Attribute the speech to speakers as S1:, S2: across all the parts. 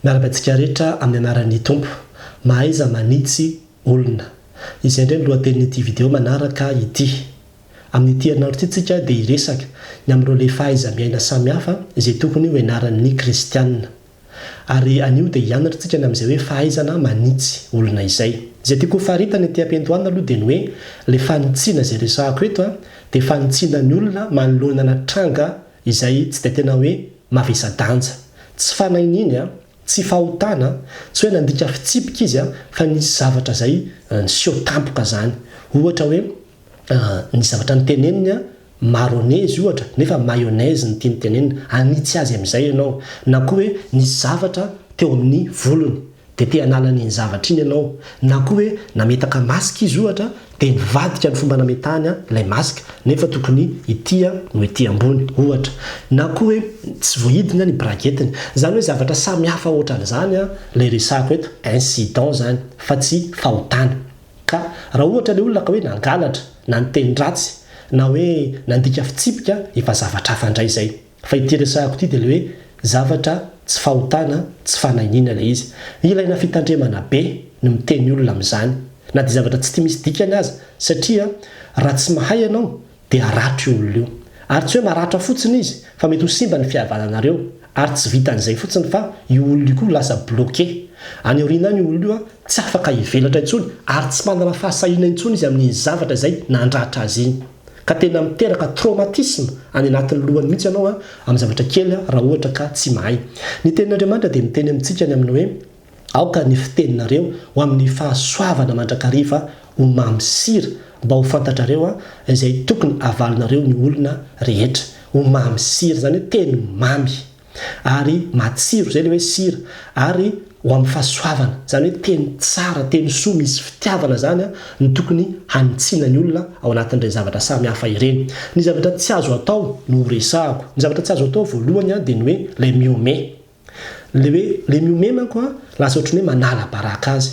S1: Miaraka antsika rehetra amin'ny anaran'ny Tompo. Mahaiza manitsy olona. Izay indray ny lohatenin'ity video manaraka ity. Amin'ity herinandro ity tsika dia hiresaka ny amin'ireo le fahaiza-miaina samihafa izay tokony ho ianaran'ny kristiana. Ary anio dia hianatra tsika ny amin'izay hoe fahaizana manitsy olona izay. Izay tiako ho faritana ity ampendoana aloha dia ny hoe le fanitsiana izay resahako eto dia fanitsiana ny olona manoloana na tranga izay tsy dia tena hoe mavesa-danja. Tsy fanahy niny an, tsy fahotana an, tsy hoe nandika fitsipika izy an, fa nisy zavatra izay niseho tampoka izany. Ohatra hoe, ny zavatra niteneniny an, maronezy ohatra, nefa mayonnaise ny tiany tenenina, hanitsy azy amin'izay ianao. Na koa hoe, nisy zavatra teo amin'ny volony. dia te hanala an'iny zavatra iny ianao, na koa hoe nametaka masque izy ohatra dia nivadika ny fomba nametahany ilay masque nefa tokony ity no ety ambony ohatra, na koa hoe tsy voahidina ny braguette-ny, izany hoe zavatra samy hafa ohatran'izany ilay resahako eto, incident izany fa tsy fahotana. Ka raha ohatra ilay olona ka hoe nangalatra, na niteny ratsy, na hoe nandika fitsipika, efa zavatra hafa indray izay. Fa ity resahako ity dia ilay hoe zavatra tsy fahotana, tsy fanainiana ilay izy. Ilaina fitandremana be ny miteny olona amin'izany, na dia zavatra tsy tia misy dikany aza, satria raha tsy mahay ianao dia haratro io olona io. Ary tsy hoe maratra fotsiny izy fa mety ho simba ny fihavananareo, ary tsy vitan'izay fotsiny fa io olona io koa ho lasa bloqué. Any aoriana any io olona io tsy afaka hivelatra intsony, ary tsy manana fahasahiana intsony izy amin'iny zavatra izay nandratra azy iny. ka tena miteraka traumatisme any anatin'ny lohany mihitsy ianao amin'ny zavatra kely raha ohatra ka tsy mahay. Ny tenin'Andriamanitra dia miteny amintsika any amin'ny hoe, Aoka ny fiteninareo ho amin'ny fahasoavana mandrakariva ho mamy sira, mba ho fantatrareo izay tokony havalinareo ny olona rehetra. Ho mamy sira, izany hoe teny mamy. ary matsiro izay le hoe sira ary ho amin'ny fahasoavana izany hoe teny tsara teny soa misy fitiavana izany no tokony hanitsiana ny olona ao anatin'ireny zavatra samy hafa ireny ny zavatra tsy azo atao no ho resahako ny zavatra tsy azo atao voalohany dia ny hoe ilay mihomehy le hoe le mihomehy manko lasa ohatran'ny hoe manala baraka azy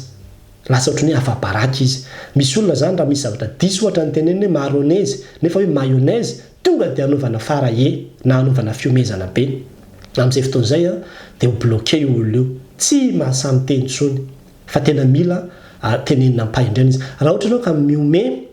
S1: Lasa ohatran'ny hoe afa-baraka izy. Misy olona izany raha misy zavatra diso ohatra ny teneniny hoe maronezy nefa hoe mayonnaise tonga dia anaovana fara e na anaovana fihomezana be. Amin'izay fotoana izay dia ho bloquer io olona io. Tsy mahasahy-miteny intsony. Fa tena mila tenenina ampahindrena izy. Raha ohatra ianao ka mihomehy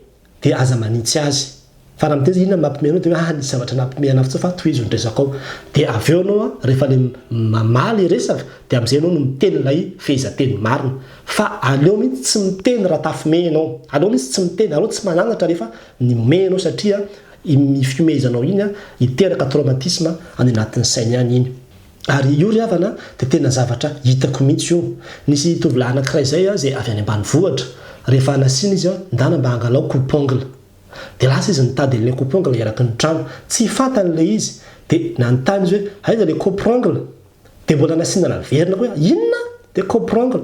S1: dia aza manintsy azy fa raha miteny izy inona no mampime anao dia hoe aah nisy zavatra nampime anao fotsiny fa tohizo ny resakao dia avy eo ianao rehefa le mamaha le resaka dia amin'izay ianao no miteny ilay fehezanteny marina fa aleo mihitsy tsy miteny raha tafime ianao aleo mihitsy tsy miteny aleo tsy mananatra rehefa nihomehy ianao satria iny fihomehezanao iny hiteraka traumatisme any anatin'ny sainy any iny Ary io ry havana dia tena zavatra hitako mihitsy io. Nisy tovolahy anankiray izay izay avy any ambanivohitra. Rehefa nasiana izy ndana mba hangalao coupe ongle. Dia lasa izy nitady an'ilay coupe ongle eraky ny trano. Tsy fantany ilay izy. Dia nanontany izy hoe aiza ilay coupe ongle? Dia mbola nasiana naverina koa hoe inona? Dia coupe ongle.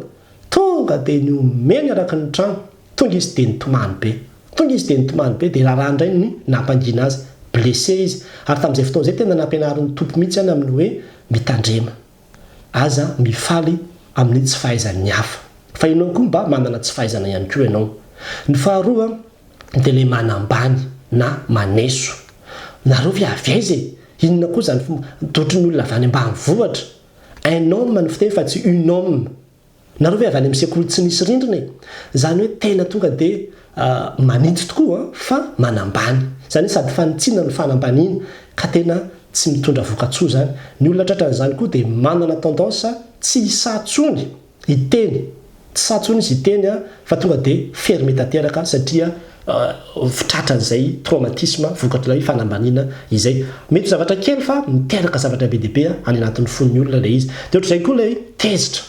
S1: Tonga dia nihomehy ny eraky ny trano. Tonga izy dia nitomany be. Tonga izy dia nitomany be dia raharaha indray ny nampangina azy. Blessé izy. Ary tamin'izay fotoana izay tena nampianarin'ny Tompo mihitsy any amin'ny hoe mitandrema. Aza mifaly amin'ny tsy fahaizan'ny hafa. Fa ianao koa mba manana tsy fahaizana ihany koa ianao. Ny faharoa dia ilay manambany na maneso. Nareo ve avy aiza e? Inona koa izany fomba, dia ohatran'ny olona avy any ambanivohitra. Un homme no fiteny fa tsy une homme. Nareo ve avy any amin'ny sekoly tsy misy rindrina e? Izany hoe tena tonga dia manitsy tokoa fa manambany. Izany hoe sady fanitsiana no fanambaniana ka tena tsy mitondra vokatsoa izany. Ny olona tratran'izany koa dia manana tendance tsy hisaha tsony hiteny, tsy sahy tsony izy hiteny fa tonga dia fermé tanteraka satria. fitratran'izay traumatisme vokatr'ilay fanambaniana izay. Mety zavatra kely fa miteraka zavatra be dia be any anatin'ny fon'ny olona ilay izy. Dia ohatr'izay koa ilay tezitra.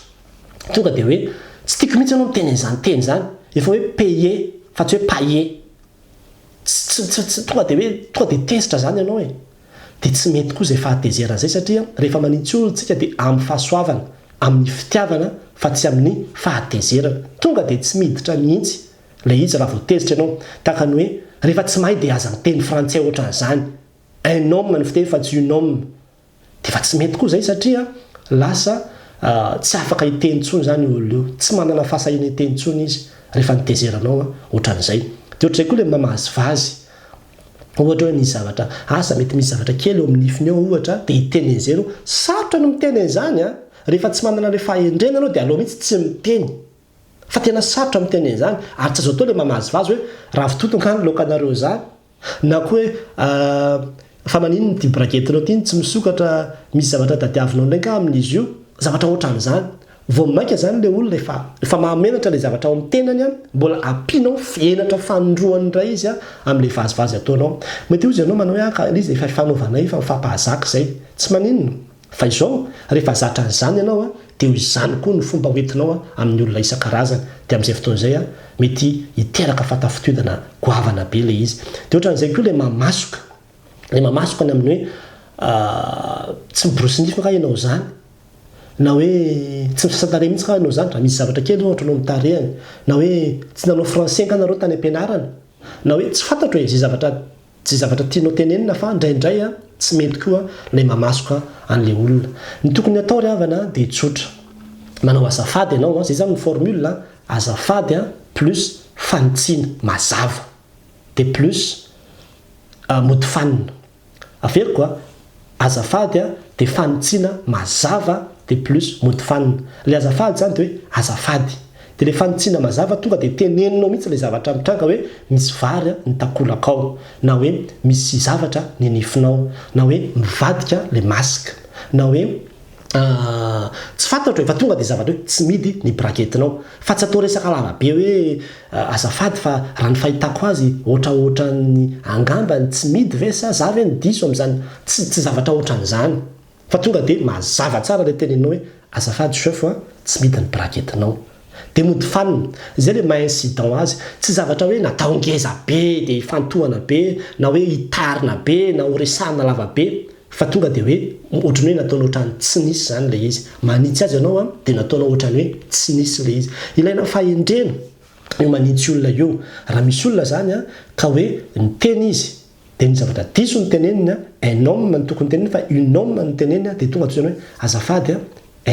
S1: Tonga dia hoe tsy tiako mihitsy ianao miteny an'izany teny izany. Efa hoe payer fa tsy hoe pailler. Tsy tsy tsy tonga dia hoe tonga dia tezitra izany ianao e. Dia tsy mety koa izay fahatezerana izay satria rehefa manintsy olona isika dia amin'ny fahasoavana, amin'ny fitiavana fa tsy amin'ny fahatezerana. Tonga dia tsy miditra mihitsy Ilay izy raha vao tezitra ianao, tahaka ny hoe rehefa tsy mahay dia aza miteny frantsay ohatran'izany. Un homme no fiteny fa tsy une homme. Dia efa tsy mety koa izay satria lasa tsy afaka hiteny intsony izany io olona io. Tsy manana fahasahiana hiteny intsony izy rehefa notezeranao ohatran'izay. Dia ohatr'izay koa ilay mamahazy vazy. Ohatra hoe misy zavatra, asa mety misy zavatra kely eo amin'ny nifiny eo ohatra dia hiteny an'izay ianao. Sarotra ny miteny an'izany an! Rehefa tsy manana ilay fahendrena ianao dia aleo mihitsy tsy miteny. Fa tena sarotra miteny an'izany ary tsy azo atao ilay mamazivazy hoe ravitoto angaha ny laokanareo izany? Na koa hoe ahh fa maninona ity bragetinao ity no tsy misokatra, misy zavatra tadiavinao indray angaha amin'izy io? Zavatra ohatran'izany. Vao mainka izany ilay olona efa efa mahamenatra ilay zavatra ao amin'ny tenany an, mbola ampianao henatra fanindroany indray izy an amin'ilay vazivazy ataonao. Mety hozy ianao manao hoe an ka ilay izy efa efa novanay efa mifampahazaka izay. Tsy maninona. Fa izao, rehefa zatra an'izany ianao, dia ho izany koa no fomba hoentinao amin'ny olona isan-karazany. Dia amin'izay fotoana izay, mety hiteraka fahatafitodana goavana be ilay izy. Dia ohatran'izay koa ilay mamasoka. Ilay mamasoka ny amin'ny hoe tsy miborosy nify angaha ianao izany? Na hoe tsy misasa-tarehy mihitsy angaha ianao izany? Raha misy zavatra kely ohatra no mitarihany. Na hoe tsy nanao français angaha nareo tany am-pianarana? Na hoe tsy fantatro e, izay zavatra. Tsy zavatra tianao tenenina fa ndraindray tsy mety koa ilay mamasoka an'ilay olona. Ny tokony atao ry havana dia tsotra. Manao azafady ianao, izay izany ny formule, azafady plus fanitsiana mazava. Dia plus mody fanina. Averiko a. Azafady a dia fanitsiana mazava dia plus mody fanina. Ilay azafady izany dia hoe azafady. Dia ilay fanitsiana mazava tonga dia teneninao mihitsy ilay zavatra mitranga hoe misy vary a ny takolaka ao, na hoe misy zavatra ny nifinao, na hoe mivadika ilay masque, na hoe Aah tsy fantatro e, fa tonga dia zavatra hoe tsy midy ny braketinao. Fa tsy atao resaka lava be hoe azafady fa raha ny fahitako azy ohatraohatran'ny angamba ny tsy midy ve sa za ve no diso amin'izany? Tsy tsy zavatra ohatran'izany. Fa tonga dia mazava tsara ilay tenenao hoe azafady Chef a, tsy midy ny braketinao. Dia mody fanina. Izay ilay maha incident azy. Tsy zavatra hoe natao ngeza be dia hifantohana be na hoe hitarina be na ho resahina lava be fa tonga dia hoe ohatran'ny hoe nataony ohatran'ny tsy nisy izany ilay izy. Manitsy azy ianao an, dia nataonao ohatran'ny hoe tsy nisy ilay izy. Ilaina fahendrena io manitsy olona io. Raha misy olona izany an, ka hoe niteny izy Dia ny zavatra diso ny teneniny a, un homme no tokony teneniny fa une homme no teneniny a, dia tonga toy izany hoe, azafady a,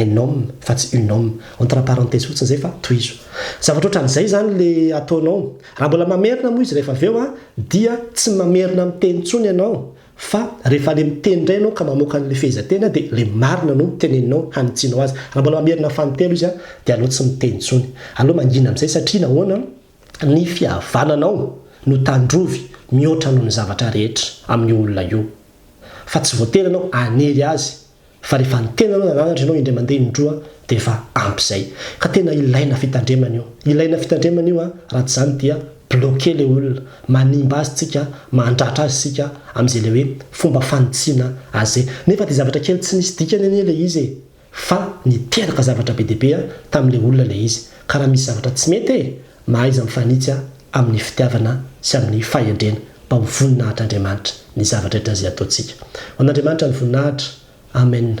S1: un homme fa tsy une homme. Entre parenthèses fotsiny izay fa tohizo. Zavatra ohatran'izay izany ilay ataonao. Raha mbola mamerina moa izy rehefa avy eo a, dia tsy mamerina miteny intsony ianao fa rehefa ilay miteny indray ianao ka mamoaka an'ilay fehezanteny dia ilay marina no teneninao hanitsianao azy. Raha mbola mamerina fanintello izy a, dia aleo tsy miteny intsony. Aleo mangina amin'izay satria nahoana? Ny fihavananao no tandrovy mihoatra noho ny zavatra rehetra amin'io olona io. Fa tsy voatery ianao hanery azy fa rehefa ny tenanao nananatra ianao indray mandeha indroa dia efa ampy izay. Ka tena ilaina fitandremana io. Ilaina fitandremana io an, raha tsy izany dia bloquer ilay olona, manimba azy tsika, mandratra azy isika amin'izay ilay hoe fomba fanitsiana azy izay. Nefa dia zavatra kely tsy nisy dikany anie ilay izy e! Fa niteraka zavatra be dia be tamin'ilay olona ilay izy. Ka raha misy zavatra tsy mety e! mahaiza mifanitsy amin'ny fitiavana sy amin'ny fahendrena mba ho voninahitr'Andriamanitra ny zava-drehetra izay ataontsika. Ho an'Andriamanitra ny voninahitra. Amen.